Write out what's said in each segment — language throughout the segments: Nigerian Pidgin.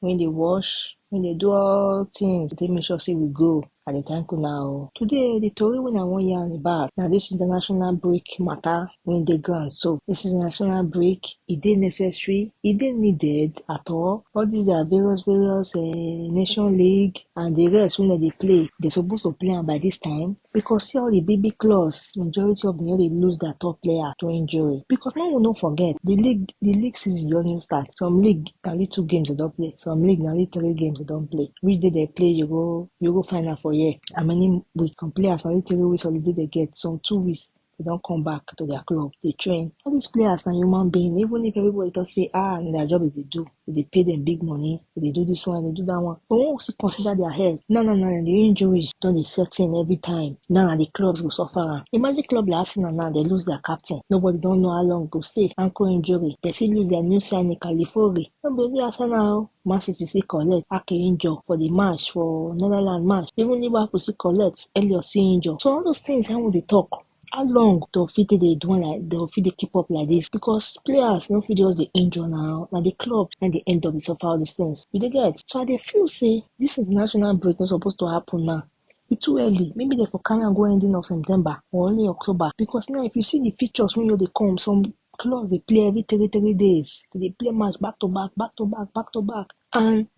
When they wash, when they do all things, they make sure say we go. I dey thank una o. Today, the tori wey I wan yarn about na this international break matter wey dey ground so. This international break, e dey necessary, e dey needed at all. All these their various various um nation league and the rest wey dem dey play, they suppose to play am by this time because see all the big big clubs majority of them no dey lose their top player to injury because make we no forget the league the league season don even start some league na only two games dem don play some league na only three games dem don play which day dem play you go you go find out for here how many weeks some players na only three weeks holiday dem get some two weeks they don come back to their club dey train all these players na human being even if everybody talk say ah na their job dem dey do we dey pay dem big money, we dey do this one, we dey do that one. But when we still consider their health, now now now the injuries don dey set in every time. Now na the clubs go suffer am. Imagine club like Arsenal now, they lose their captain. Nobody don know how long e go stay. Ankle injury. They still lose their new signing, Califori. No be only Arsenal o. Man City still collect Ake injure for the match for Netherlands match. Even Liverpool still collect Elliot still injure. So all those things na im we dey talk. How long dem fit take dey do am like dem go fit dey keep up like dis because players no fit just dey injure na, na di club na im dey end up dey suffer all dis tins you dey get. So I dey feel sey dis international break no suppose to happen now, e too early maybe dem for carry am go ending of September or early October because now if you see di fixtures wey just dey come some clubs dey play every three three days, dem dey play match back to back, back to back, back to back and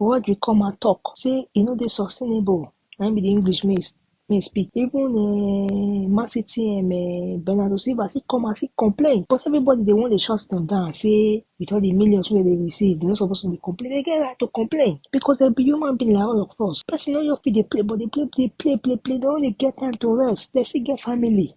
Rodri come out talk say e no dey sustainable na im be the English me me speak even uh, Man City um, uh, Bernardo Silva still come out still complain but everybody dey wan dey shut them down say with all the millions wey they receive they no suppose to dey complain they get right to complain because they be human being like all of us person no just fit dey play but dey play dey play play play they no dey get time to rest they still get family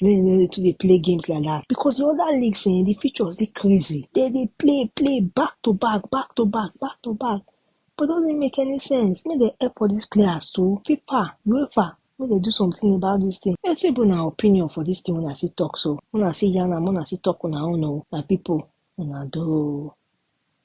Then they too dey play games like that because the other leagues eh, the features dey crazy. They dey play play back to back, back to back, back to back. But doesn't make any sense. Make they help all these players too. FIFA, UEFA, make they do something about this thing. Let's say una opinion for this thing when I see talk so. When I see yarn am, when I see talk una own oh, my people, una do.